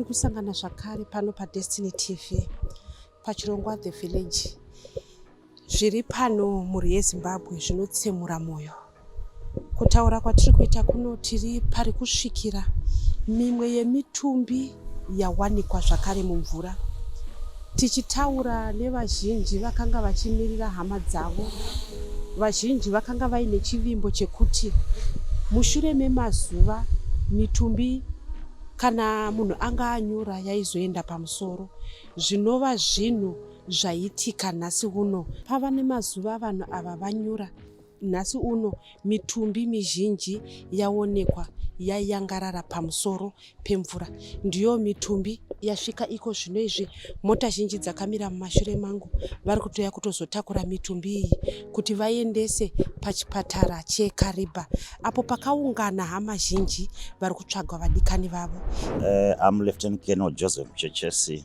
tiri kusangana zvakare pano padestiny tv pachirongwa the village zviri pano mhuri yezimbabwe zvinotsemura mwoyo Kutaura kwatiri kuita kuno tiri pari kusvikira mimwe yemitumbi yawanikwa zvakare mumvura. Tichitaura nevazhinji vakanga vachimirira hama dzavo, vazhinji vakanga vaine chivimbo chekuti mushure memazuva mitumbi kana munhu anga anyura yaizoenda pamusoro zvinova zvinhu zvaitika nhasi uno pava nemazuva vanhu ava vanyura Nhasi uno mitumbi mizhinji yaonekwa yayangarara pamusoro pemvura. Ndiyo mitumbi yasvika iko zvino izvi. Mota zhinji dzakamira mumashure mangu vari kutoya kutozotakura mitumbi iyi kuti vaendese pachipatara cheKariba apo pakaungana hama zhinji vari kutsvagwa vadikani vavo. Uh, I'm Lieutenant Colonel Joseph Chechesi.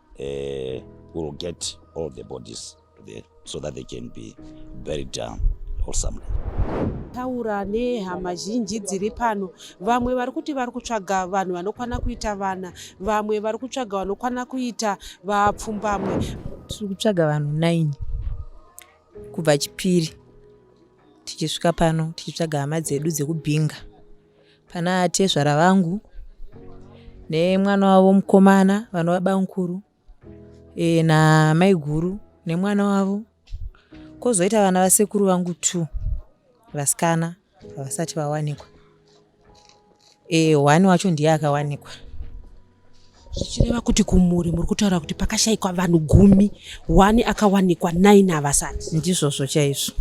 uh, will get all the bodies there so that they can be buried down wholesomely. taura nehama zhinji dziri pano vamwe vari kuti vari kutsvaga vanhu vanokwana kuita vana vamwe vari kutsvaga vanokwana kuita vapfumbamwe tiri kutsvaga vanhu 9 kubva chipiri tichisvika pano tichitsvaga hama dzedu dzekubhinga Pana tezvara vangu nemwana wavo mukomana vanova bamukuru e, na maiguru nemwana wavo kozoita vana vasekuru vangu two vasikana havasati vawanikwa e, one wacho ndiye akawanikwa zvichireva kuti kumhuri muri kutaura kuti pakashayikwa vanhu gumi one akawanikwa nine havasati ndizvozvo chaizvo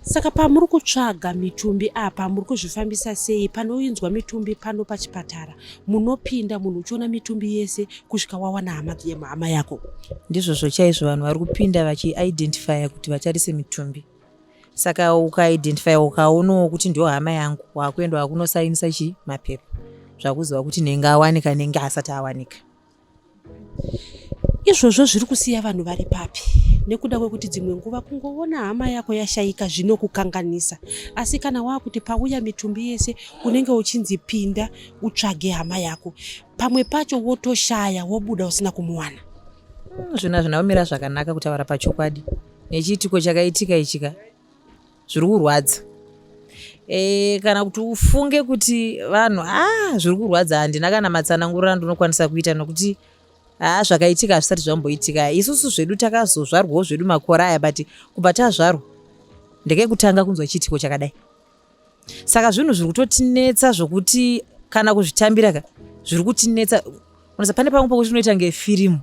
saka pamuri kutsvaga mitumbi apa muri kuzvifambisa sei panoinzwa mitumbi pano pachipatara munopinda munhu uchiona mitumbi yese kusvika wawana hama hama yako ndizvozvo chaizvo vanhu vari kupinda vachiidentifya kuti vatarise mitumbi saka ukaidentify ukaonawo kuti ndiyo hama yangu wakuenda wakunosainisa chii mapepa zvakuziva kuti nenge awanika nenge asati awanika izvozvo zviri kusiya vanhu vari papi nekuda kwekuti dzimwe nguva kungoona hama yako yashaika zvinokukanganisa asi kana waakuti pauya mitumbi yese unenge uchinzi pinda utsvage hama yako pamwe pacho wotoshaya wobuda usina kumuwana hmm, zvino hazvina kumira zvakanaka kutaura pachokwadi nechiitiko chakaitika ichi ka zviri kurwadza e, kana kuti ufunge kuti vanhu a ah, zviri kurwadza handina kana matsanangurira ndinokwanisa kuita nokuti haa ah, zvakaitika hazvisati zvamboitika isusu zvedu takazozvarwawo zvedu makore aya but kubva tazvarwa ndekekutanga kunzwa chiitiko chakadai saka zvinhu zviri kutotinetsa zvokuti kana kuzvitambira ka zviri kutinetsa unasa pane pamwe pokuti unoita ngefirimu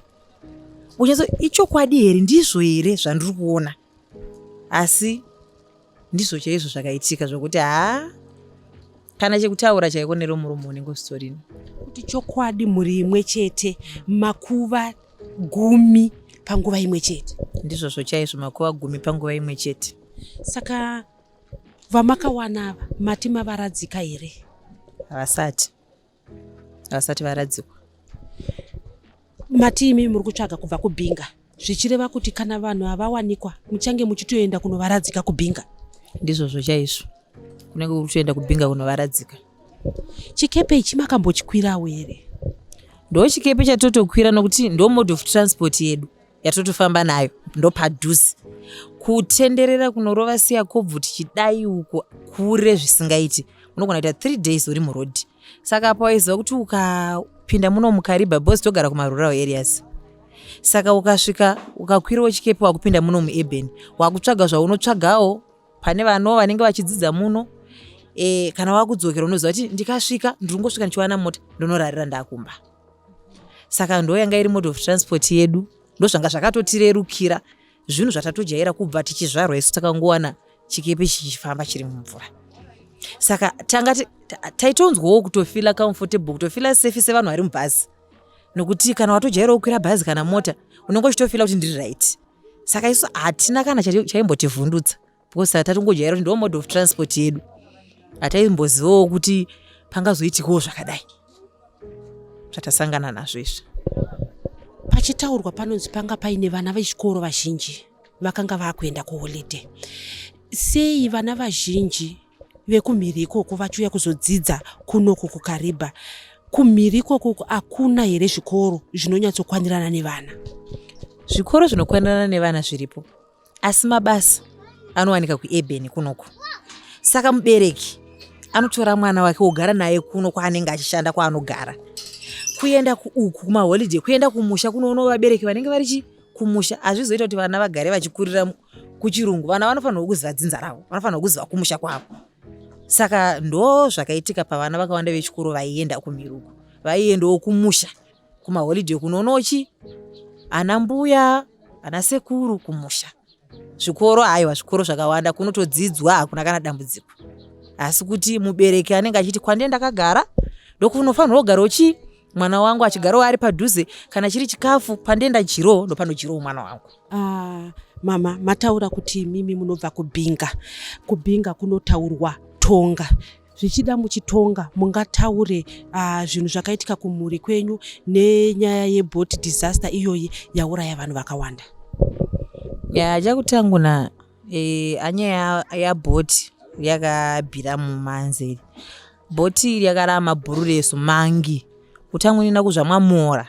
unyatso ichokwadi here ndizvo here zvandiri kuona asi ndizvo chaizvo zvakaitika zvokuti haa kana chekutaura chaiko nero murume unenge usitorino kuti chokwadi mhuri imwe chete makuva gumi panguva imwe chete ndizvozvo chaizvo makuva gumi panguva imwe chete saka vamakawana ava mati mavaradzika here havasati havasati varadzikwa mati imi muri kutsvaga kubva kubhinga zvichireva kuti kana vanhu havawanikwa muchange muchitoenda kunovaradzika kubhinga ndizvozvo chaizvo kunenge kuri kutoenda kubhinga kunovaradzika chikepe ichi makambochikwirawo here ndo chikepe chatotokwira nokuti ndo mode of transport yedu yatotofamba nayo ndopadhuze kutenderera kunorova siya kobvu tichidai uko kure zvisingaiti unogona kuita three days uri murodhi saka apo waiziva kuti ukapinda muno mukariba bos togara kumarural areas saka ukasvika ukakwirawo chikepe wakupinda muno mueben wakutsvaga zvaunotsvagawo pane vano vanenge vachidzidza muno e, kana wakudzokera unoziva kuti ndikasvika ndiri kungosvika ndichiwana mota ndonorarira ndakumba saka ndo yanga iri mode of transport yedu ndozvanga zvakatotirerukira zvinhu zvatatojaira kubva tichizvarwa isu takangowana chikepe chichifamba chiri mumvura saka tanga taitonzwawo kutofila comfortable kutofila safe sevanhu vari mubhazi nokuti kana watojaira kukwira bhazi kana mota unenge uchitofila kuti ndiri right saka isu hatina kana chaimbotivhundutsa because hatatongojaira kuti ndo mode of transport yedu hataimbozivawo kuti pangazoitikawo zvakadai zvatasangana nazvo izvi pachitaurwa panonzi panga paine vana vechikoro vazhinji vakanga vakuenda kuholiday sei vana vazhinji vekumhiri ikoko vachiuya kuzodzidza kunoku kukaribha kumhiri ikokoko hakuna here zvikoro zvinonyatsokwanirana nevana zvikoro zvinokwanirana nevana zviripo asi mabasa anowanika kuebheni kunoku saka mubereki anotora mwana wake wogara naye kuno kwaanenge achishanda kwaanogara kuenda uku kumaholiday kuenda kumusha kunoona vabereki vanenge vari chi kumusha hazvizoita kuti vana vagare vachikurira kuchirungu vana vanofanirwa kuziva dzinza ravo vanofanirwa kuziva kumusha kwavo saka ndo zvakaitika pavana vakawanda vechikoro vaienda kumiruko vaiendawo kumusha kumaholiday kunonochi ana mbuya ana sekuru kumusha zvikoro aiwa zvikoro zvakawanda kunotodzidzwa hakuna kana dambudziko asi kuti mubereki anenge achiti kwandie ndakagara ndokunofanirwa kugara uchi mwana wangu achigarawo ari padhuze kana chiri chikafu pandenda jiro ndopanojirawo mwana wangu ah, mama mataura kuti imimi munobva kubhinga kubhinga kunotaurwa tonga zvichida muchitonga mungataure uh, zvinhu zvakaitika kumhuri kwenyu nenyaya yeboat disaster iyoyi yauraya vanhu vakawanda ya chakutanguna e, eh, anyaya yaboat ya yakabhira mumanzeri bhoti iri yakarama bhuru resu mangi kutangwa nina kuzvamwamora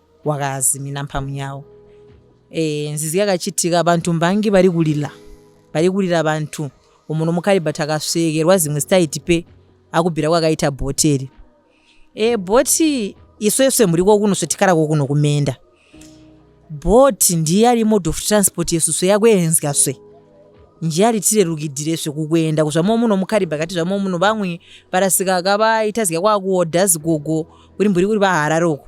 wakazimina mphamu yawo e, nzizi yakachitika abantu mbangi vari kulila vari kulila abantu umuntu mukaribha takasvekerwa zimwe zitaiti pe akubhira kwakaita bhoteri e, bhoti isweswe muri kokuno svetikara kokuno kumenda bhoti ndiye ari mode of transport yesu swe yakuenzga swe nje ari tirerukidhire svekukuenda kuzvamo muno mukaribha kati zvamo muno vamwe parasika akavaita zika kwakuodha zigogo kuri mburi kuri vahararoko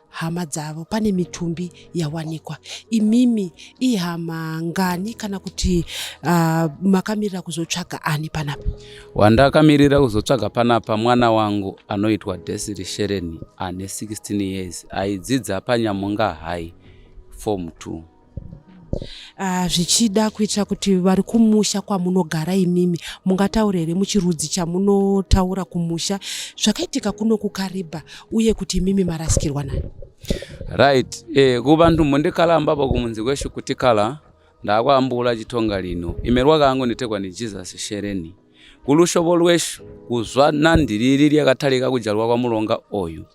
hama dzavo pane mitumbi yawanikwa imimi ihama ngani kana kuti uh, makamirira kuzotsvaga ani panapa wandakamirira kuzotsvaga panapa mwana wangu anoitwa desiri shereni ane 16 years aidzidza panyamunga high form 2 Ah, zvichida kuitira kuti vari kumusha kwamunogara imimi mungataura here muchirudzi chamunotaura kumusha zvakaitika kuno kukariba uye kuti imimi marasikirwa nani right eh, kubantu mundikala ambaba kumunzi kweshu kutikala ndakwambula chitonga lino imerwa kangu nitekwa ni jesus shereni kulushovo lweshu kuzwa nandi liri lyakatalika kujalwa kwa mulonga oyu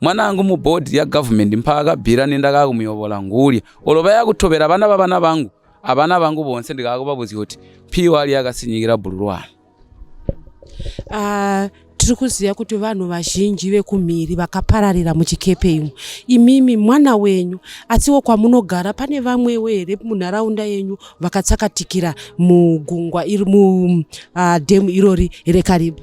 mwana angu mubhodhi yagovernment mpaakabvira nendakaa kumuyovola ngulya olo vaya kutobera vana vavana vangu avana vangu vonse ndikaa kuvavuzya kuti piwa ali yakasinyikira bhururwana uh, ah, tiri kuziva kuti vanhu vazhinji vekumhiri vakapararira muchikepe imo imimi mwana wenyu asiwo kwamunogara pane vamwewo here munharaunda yenyu vakatsakatikira mugungwa iri mudhemu ah, irori rekaribu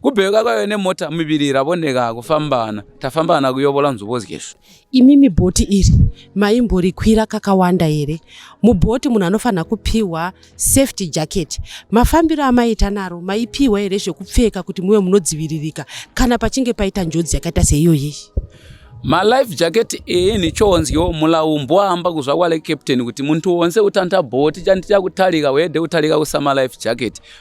kubheuka kwayo nemota miviri ravoneka kufambana tafambana kuyovola nzvimbo zgesvo imimi bhoti iri maimborikwira kakawanda here mubhoti munhu anofanira kupiwa safety jacket mafambiro amaita naro maipiwa here zvekupfeka kuti muve munodziviririka kana pachinge paita njodzi yakaita seiyoyi malife jacket iyi nichonzyo mulaumbwaamba kuzvakwale captain kuti muntu wonse utanta bhoti chandichakutarika wede kutarika kusamalife jacket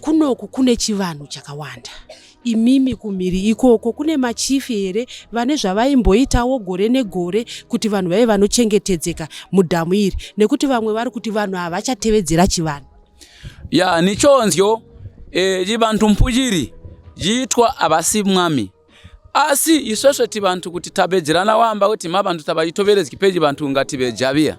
kunoku kune chivanhu chakawanda imimi kumhiri ikoko kune machifi here vane zvavaimboitawo gore negore kuti vanhu vaive vanochengetedzeka mudhamu iri nekuti vamwe vari kuti vanhu havachatevedzera chivanhu ya nichonzyo e, chivanhu mpujiri jiitwa havasi mwami asi isvesve tivanhu kuti tabedzerana wamba kuti mavanhu tavaitoverezki peji vanhu ngativejaviya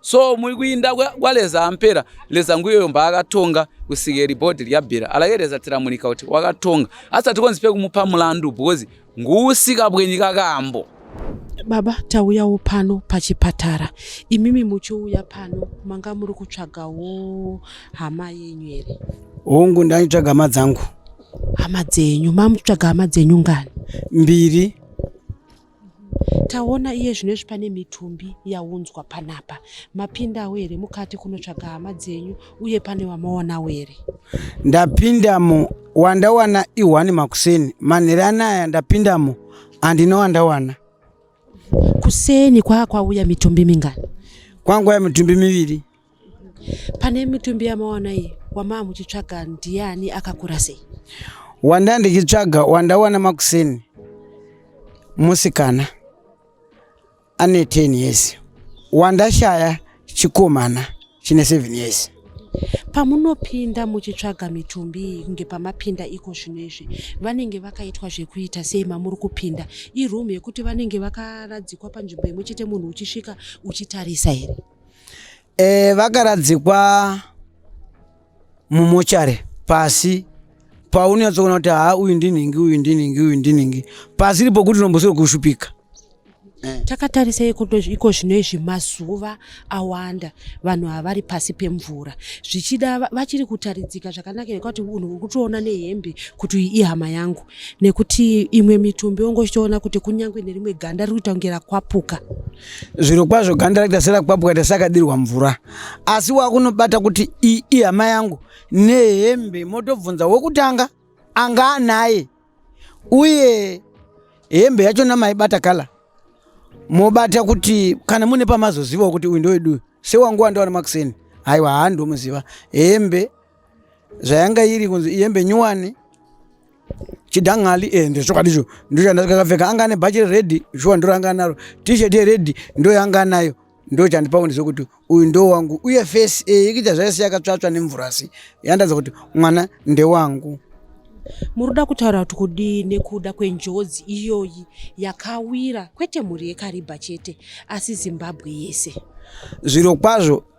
so muri kuinda kwaleza ampera leza nguyoyo mbaakatonga kusika iri bhodhi ryabhira alakereza tiramunika kuti wakatonga asati konzi pekumupa mulandu because nguusika bwenyika kambo baba tauyawo pano pachipatara imimi muchiuya pano manga muri kutsvagawo hama yenyu here hungu ndaitsvaga hama dzangu hama dzenyu mamutsvaga hama dzenyu ngani mbiri taona iye zvinezvi pane mitumbi yaunzwa panapa mapindawo here mukati kunotsvaga hama dzenyu uye pane wamaonawo here ndapindamo wandawana ihwani makuseni manhere anaya ndapindamo handina wandawana kuseni kwaa kwauya mitumbi mingani kwangwaya mitumbi miviri pane mitumbi yamawana iyi wamaa muchitsvaga ndiani akakura sei wanda ndichitsvaga wandawana makuseni musikana ane 10 years wandashaya chikomana chine 7 years pamunopinda muchitsvaga mitumbi iyi kunge pamapinda iko zvino izvi vanenge vakaitwa zvekuita sei mamuri kupinda iroom yekuti vanenge vakaradzikwa panzvimbo imwe chete munhu uchisvika uchitarisa here e, vakaradzikwa mumochare pasi paunyatsoona kuti haa uyu ndinhingi uyu ndinhingi uyu ndinhingi pasiri pokuti unombosiri kushupika eh. takatarisa iko zvino izvi mazuva awanda vanhu havari pasi pemvura zvichida vachiri kutaridzika zvakanaka nekuti unhu uri kutoona nehembe kuti iyi ihama yangu nekuti imwe mitumbi ongochitoona kuti kunyange nerimwe ganda riri kutangira kwapuka zviro kwazvo ganda raita serakwapwa kaita sakadirwa mvura asi wakunobata kuti iyi ihama yangu nehembe motobvunza wekutanga anga anaye uye hembe yacho namaibata kala mobata kuti kana mune pamazozivawo kuti uyu ndoweduyu sewangu wandaona makuseni haiwa haa ndomuziva hembe zvayanga iri kunzi iyembe nyuwani chidangali eh ndezvokwadi izvo ndochandakapfeka anga ane bhachi reredi shuwa ndoranga naro t-shirt yeredi ndoyanga nayo ndochandipa kundiza kuti uyu ndo wangu uye face eh ikuita zvaisi yakatsvatsva nemvura asi yandaza kuti mwana ndewangu muruda kutaura kuti kudii nekuda kwenjodzi iyoyi yakawira kwete mhuri yekaribha chete asi zimbabwe yese zviro kwazvo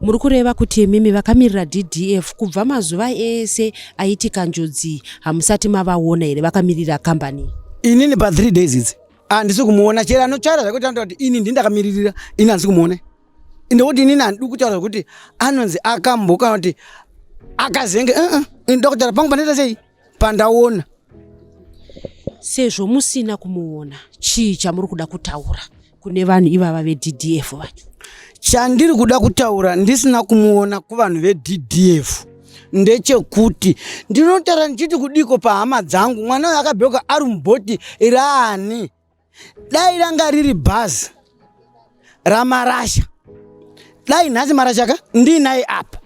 muri kureva kuti imimi vakamirira ddf kubva mazuva ese aitika njodzi hamusati mavaona here vakamirira kambani inini pa three days idzi handisi kumuona chero anotaura zvakuti anotaura kuti ini ndi ndakamiririra ini handisi kumuona ende kuti inini handidi kutaura zvakuti anonzi akambo kana kuti akazenge uh-uh. ini ndoda kutaura pangu panoita sei pandaona sezvo musina kumuona chii chamuri kuda kutaura kune vanhu ivava veddf vacho chandiri kuda kutaura ndisina kumuona kuvanhu veddf ndechekuti ndinotara ndichiti kudiko pahama dzangu mwana uyo akabheuka ari mubhoti iraani dai ranga riri bhazi ramarasha dai nhasi marasha ka ndiinaye apa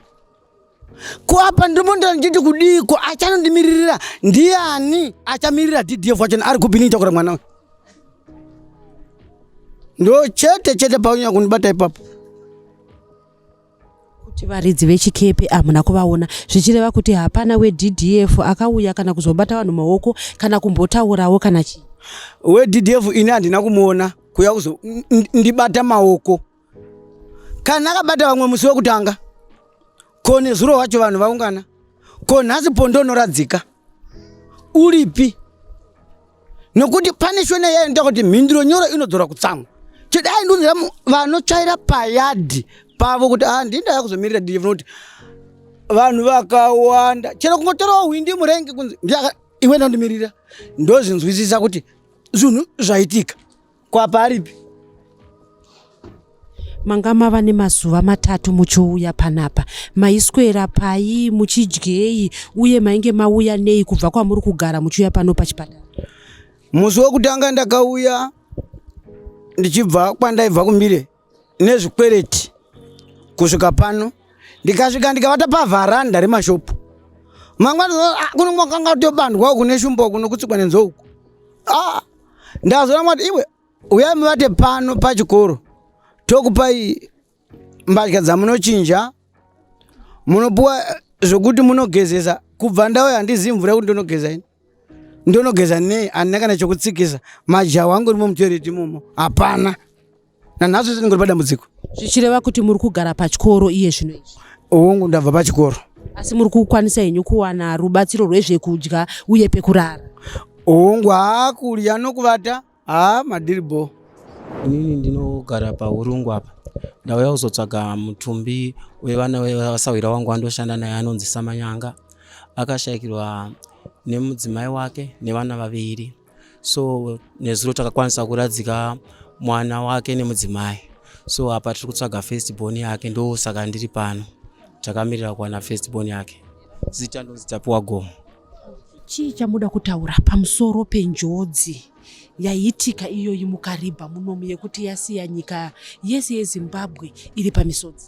ko apa ndimondo ndichiti kudiiko achanondimiririra ndiani achamirira ddf wachona ari kupi niitakura mwana uyu ndo chete chete paunyanya kundibata ipapo kuti varidzi vechikepe hamuna kuvaona zvichireva kuti hapana weddf akauya kana kuzobata vanhu maoko kana kumbotaurawo kana chii weddf ini handina kumuona kuya kuzo ndibata maoko kana akabata vamwe musi wekutanga ko nezuro wacho vanhu vaungana ko nhasi pondo noradzika uripi nokuti pane shona yayo ndoda kuti mhinduro nyoro inodzora kutsamwa chete aindiunzira vanotsvaira payadhi pavo kuti a ah, ndinda yakuzomirira dj kuti vanhu vakawanda chero kungotorawo hwindi murenge kunzi iwe ndandimirira ndozvinzwisisa kuti zvinhu zvaitika Ko apa aripi? manga mava nemazuva matatu muchiuya panapa maiswera pai muchidyei uye mainge mauya nei kubva kwamuri kugara muchiuya pano pachipatara Musi wekutanga ndakauya ndichibva kwandaibva kuMbire nezvikwereti kusvika pano ndikasvika ndikavata pavharanda remashopu mangwana ah, kuno kwakanga tobandwa uku neshumba uku nokutsikwa nenzou uku ah, ndazoona mwati iwe uyai muvate pano pachikoro tokupai mbatya dzamunochinja munopuwa zvokuti munogezesa kubva ndauya handizivi mvura yekuti ndonogeza ini ndonogeza nei handina kana chokutsikisa majawa angu rimo mutoireti imomo hapana nanhasi zvese ndingori padambudziko zvichireva kuti muri kugara pachikoro iye zvino izvi hongu ndabva pachikoro asi muri kukwanisa henyu kuwana rubatsiro rwezvekudya uye pekurara hongu haa kudya nokuvata haa madhiri bho inini ndinogara paurungu apa ndauya kuzotsvaga mutumbi wevana wevasahwira wangu andoshanda naye anonzi samanyanga akashayikirwa nemudzimai wake nevana vaviri so nezuro takakwanisa kuradzika mwana wake nemudzimai so apa tiri kutsvaga first born yake ndo saka ndiri pano takamirira kuwana first born yake zita ndonzi tapiwa gomo chii chamuda kutaura pamusoro penjodzi yaiitika iyoyi mukaribha munomu yekuti yasiya nyika yese yezimbabwe iri pamisodzi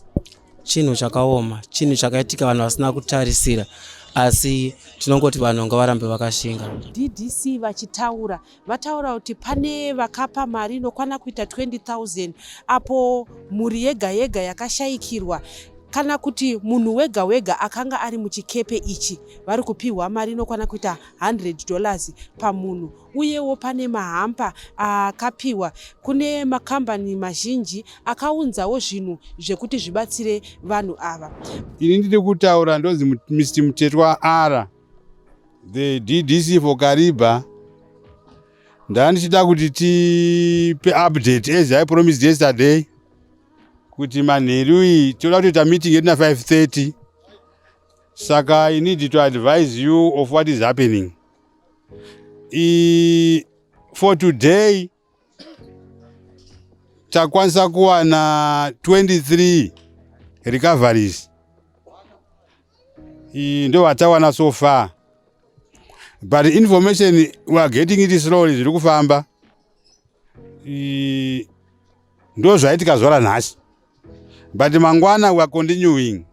chinhu chakaoma chinhu chakaitika vanhu vasina kutarisira asi tinongoti vanhu ngavarambe vakashinga ddc vachitaura vataura kuti pane vakapa mari inokwana kuita 20000 apo mhuri yega yega yakashayikirwa kana kuti munhu wega wega akanga ari muchikepe ichi vari kupiwa mari inokwana kuita 100 dollars pamunhu uyewo pane mahampa akapiwa kune makambani mazhinji akaunzawo zvinhu zvekuti zvibatsire vanhu ava. Ini ndiri kutaura ndonzi Mr Mutetwa R the DDC for Kariba ndandichida kuti tipe update as I promised yesterday kuti manheru iyi toda kutoita meeting yedu na 530 saka i need to advise you of what is happening I, for today takwanisa kuwana 23 recoveries ndo vatawana so far but information we are getting it slowly zviri kufamba ndo zvaitika zvora nhasi but mangwana we are continuing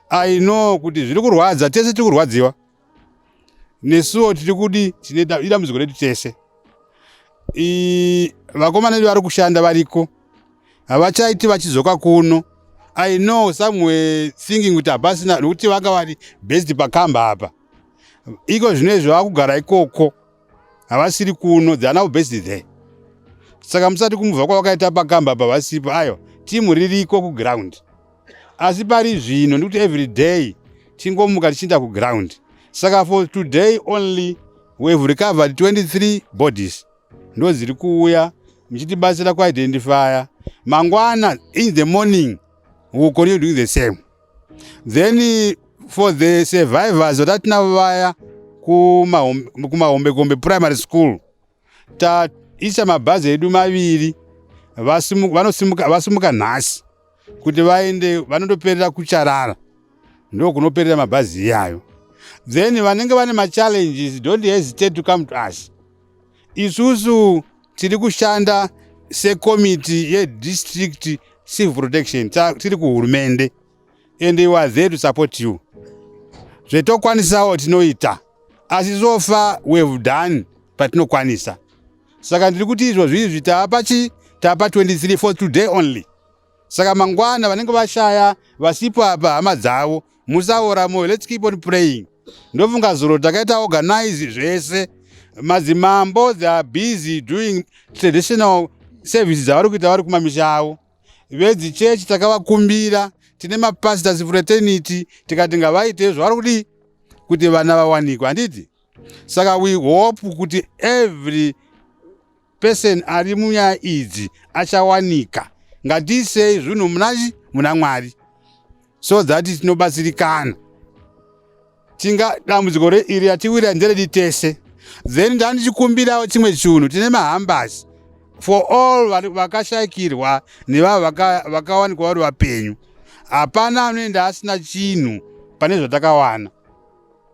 i know kuti zviri kurwadza tese tiri kurwadziwa nesuwo tiri kudi tine dambudziko redu tese vakomana vedu vari kushanda variko havachaiti vachizoka kuno i know some were thinking kuti hapasina nokuti vanga vari best pakamba apa iko zvino izvi vakugara ikoko havasiri kuno they are now based there saka musati kumuva kwavakaita pakamba pavasipo ayo timu ririko kuground asi pari zvino ndikuti every day tingomuka tichiinda kuground saka for today only wehave recovered 23 bodies ndo dziri kuuya muchitibatsira kuidentifya mangwana in the morning will continue doing the same then for the survivors vatatinavo vaya kumahombekombe primary school taisa mabhazi edu maviri vasimuka nhasi kuti vaende vanondoperera kucharara ndokunoperera mabhazi iyayo then vanenge vane machallenges don't hesitate to come to us Isusu tiri kushanda sekomiti yedistrict civil protection tiri kuhurumende and we are there to support you zvetokwanisawo tinoita asi so far we have done patinokwanisa saka ndiri kuti izvo zvizvi taapa chii taapa 23 for today only saka mangwana vanenge vashaya vasipo apa hama dzavo musaora moyo let's keep on praying ndofunga zuro takaita organize zvese madzimambo they are busy doing traditional service dzavari kuita vari kumamisha avo vedzichechi takavakumbira tine mapastors fraternity tikati ngavaite zvavari kudii kuti vana vawanikwe handiti saka we hope kuti every Person ari munyaya idzi achawanika. Ngatiisei zvinhu munachi muna Mwari so that tinobatsirikana. Tinga dambudziko iri yatiwira nderedu tese. Then ndandichikumbirawo chimwe chinhu tine mahambasi for all vakashayikirwa nevavo vakawanikwa vari vapenyu hapana anoenda asina chinhu pane zvatakawana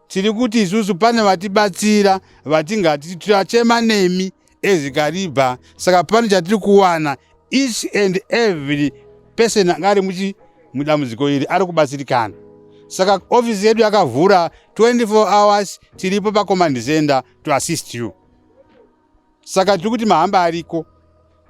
Tiri kuti isusu pane vatibatsira vatingati tichachema nemi as Kariba saka pane chatiri kuwana each and every person anga ari muchi mudambudziko iri ari kubatsirikana saka ofisi yedu yakavhura 24 hours tiripo pacommand center to assist you saka tiri kuti mahamba ariko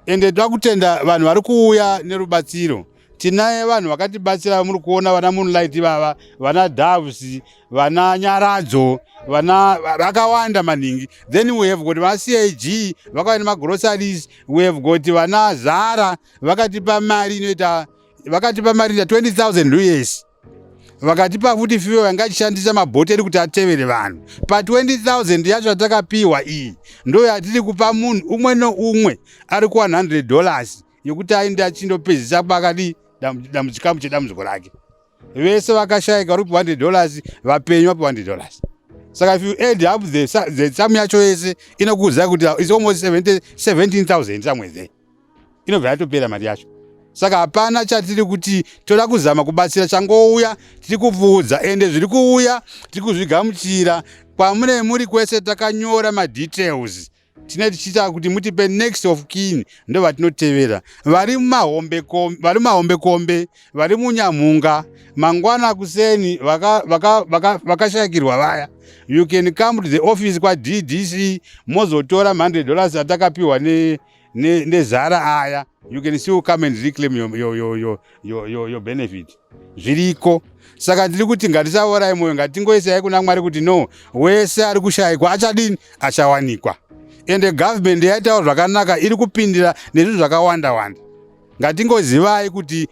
ende toda kutenda vanhu vari kuuya nerubatsiro tinaye vanhu vakatibatsira muri kuona vana moonlight vava vana doves vana nyaradzo vana vakawanda maningi then we have got vacag vakauya nemagroceries we have got vana zara vakatipa mari inoita vakatipa mari ita 20000 us vakatipa futi fiwe vanga achishandisa mabhoteri kuti atevere vanhu pa 20000 yacho yatakapiwa iyi ndo yatiri kupa munhu umwe noumwe ari ku 100 dollars yekuti aende achindopedzisa pakadi chikamu chedambudziko rake vese vakashayika vari kupa 100 dollars vapenyu vapi 100 dollars saka if you add up the, the sum yacho yese inokuudzai kuti is almost 17000 somewhere there inobva yatopera mari yacho saka hapana chatiri kuti toda kuzama kubatsira changouya tiri kupfuudza ende zviri kuuya tiri kuzvigamuchira kwamune muri kwese takanyora madetails tine tichiita kuti mutipe next of kin ndo vatinotevera vari mumahombekombe vari munyamhunga mangwana kuseni vakashakirwa vaya you can come to the office kwaddc mozotora mhande dollars atakapiwa nezara ne, ne aya you can still come and reclaim your, your, your, your, your, your, your benefit zviriko saka ndiri kuti ngatisaorai mwoyo ngatingoisai kuna mwari kuti no wese ari kushayikwa achadini achawanikwa ende government yaitawo zvakanaka iri kupindira nezvinhu zvakawanda wanda Ngatingozivai kuti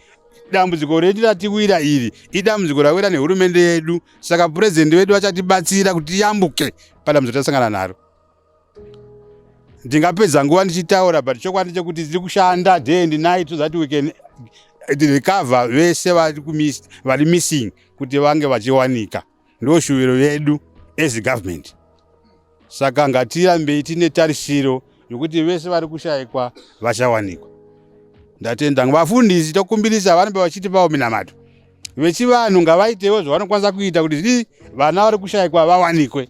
dambudziko redu ratiwira iri idambudziko rawira nehurumende yedu saka purezidhendi vedu vachatibatsira kuti tiyambuke padambudziko tasangana naro ndingapedza nguva ndichitaura but chokwadi chekuti tiri kushanda day and night so that we can recover vese vari missing kuti vange vachiwanika Ndo shuviro yedu as government. Saka ngatirambei tine tarisiro yokuti vese vari kushaikwa vachawanikwa. Ndatenda vafundisi tokumbirisa vanenge vachitipawo minamato. Vechivanhu ngavaitewo zvavanokwanisa kuita kuti zii vana vari kushaikwa vawanikwe.